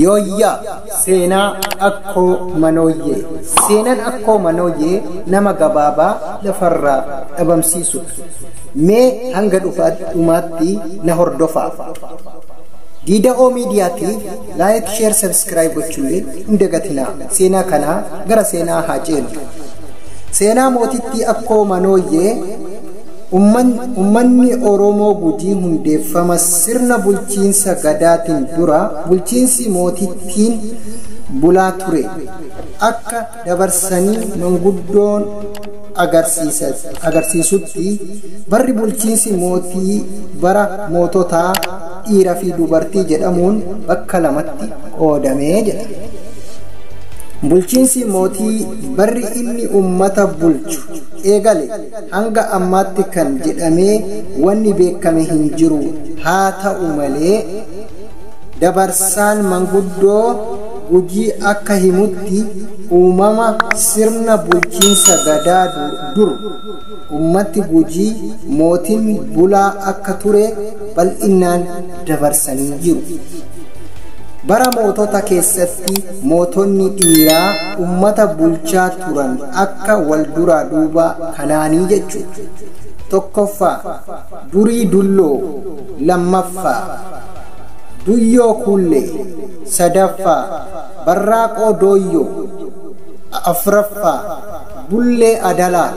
Yooyyaa seenaa akkoo manooyyee. Seenaan akkoo manooyyee nama gabaabaa lafarraa dhabamsiisudha. Mee hanga dhumaatti na hordofaa. Diida'oo miidiyaatiif laayik sheer sabiskiraayib gochuullee hin dagatinaa. Seenaa kanaa gara seenaa haa ceenu. Seenaa mootittii akkoo manooyyee Ummanni Oromoo Gujii hundeeffama sirna bulchiinsa Gadaatiin dura bulchiinsi mootittiin bulaa ture akka dabarsanii manguddoon agarsiisutti barri bulchiinsi mootii bara moototaa dhiira fi dubartii jedhamuun bakka lamatti qoodame jedha. Bulchiinsi mootii barri inni ummata bulchu eegale Hanga ammaatti kan jedhamee wanni beekkame hin jiru. Haa ta'u malee dabarsaan manguddoo Gujii akka himutti uumama sirna bulchiinsa gadaa dur ummatti Gujii mootin bulaa akka ture bal'innaan dabarsanii jiru. Bara mootota keessatti mootonni dhiiraa ummata bulchaa turan akka wal duraa duubaa kanaanii jechuudha. Tokkoffaa, Durii Dulloo, lammaffaa, Duyyoo Kuullee, sadaffaa, Barraaqoo Dooyyoo, afraffaa, Bullee Adalaa,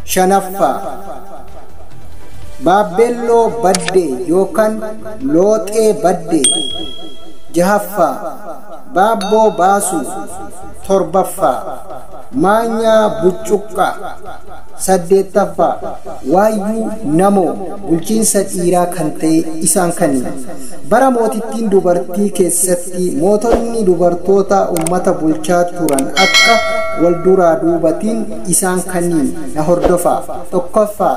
shanaffaa, Baabbeelloo Baddee yookaan Looxee Baddee, jahaffaa, Baabboo baasuu 7ffaa Maanyaa buccuqqaa 8ffaa Waayyuu namoo bulchiinsa dhiiraa kan ta'e isaan kaniin. Bara mootittiin dubartii keessatti mootonni dubartoota ummata bulchaa turan akka wal duraa duubatiin isaan kaniin na hordofaa 1ffaa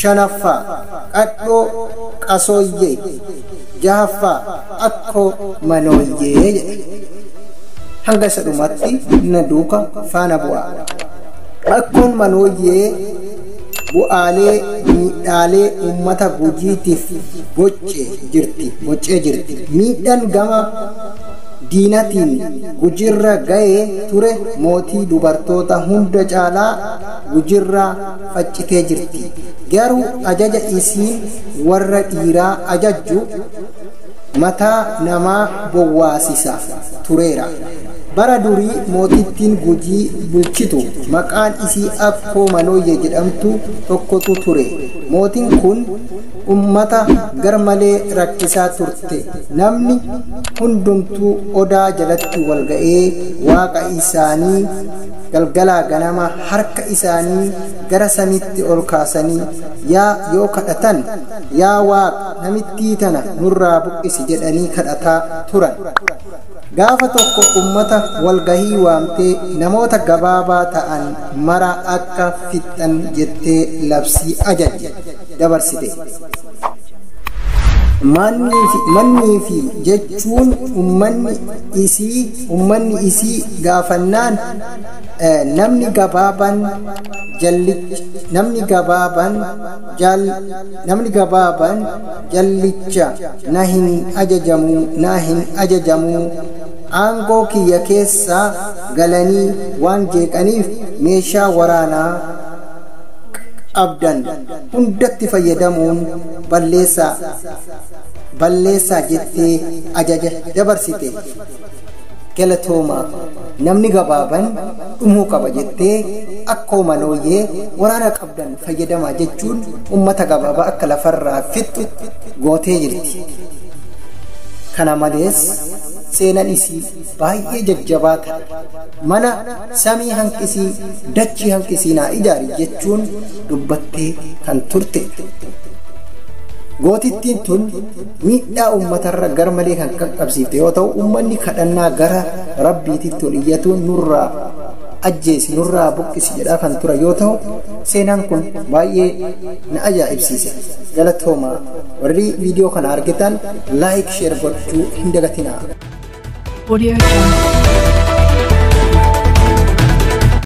shanaffaa, qadhoo, qasooyyee, jahaffaa, akkoo, manooyyee jedha. Hanga isa dhumatti na duuka faana bu'aa. Akkoon manooyyee bu'aalee miidhaalee uummata gujiitiif boccee jirti boccee jirti miidhaan gama diinatiin gujirra ga'ee ture mootii dubartoota hunda caalaa gujirraa faccitee jirti garuu ajaja isiin warra dhiiraa ajajju mataa namaa bowwaasisa tureera bara durii mootittiin gujii bulchitu maqaan isii akkoo manooyye jedhamtu tokkotu ture mootiin kun ummata garmalee rakkisaa turte namni hundumtuu odaa jalatti walga'ee waaqa isaanii galgalaa ganama harka isaanii gara samitti ol kaasanii, yaa yoo kadhatan, Yaa Waaq, namittii tana nurraa buqqisi jedhanii kadhataa turan. Gaafa tokko ummata wal gahii waamtee namoota gabaabaa ta'an mara akka fixxan jettee labsii ajajje, dabarsite. Mannii fi, mannii fi jechuun ummanni isii, ummanni isii gaafannaan, namni gabaaban jallicha namni gabaaban jal namni gabaaban jallicha na hin ajajamu na hin ajajamu aangoo kiyya keessa galanii waan jeeqaniif meeshaa waraanaa qabdan hundatti fayyadamuun balleessaa balleessaa jettee ajaja dabarsite galatoomaa namni gabaaban dhumuu qaba jettee akkoo manooyyee waraana qabdan fayyadamaa jechuun ummata gabaabaa akka lafarraa fixxu gootee jirti kana malees seenan isii baay'ee jajjabaa ta'a mana samii hanqisii dachii hanqisii naa ijaari jechuun dubbattee kan turte gootittiin tun Miidhaa uummatarra garmalee kan qaqqabsiifte yoo ta'u uummanni kadhannaa gara rabbiititti ol iyyatuun nurraa ajjeesi nurraa buqqisi jedhaa kan ture yoo ta'u seenaan kun baay'ee na ajaa'ibsiise galatooma warri viidiyoo kana argitan laayik sheer gochuu hin dagatinaa. Audio Jungle.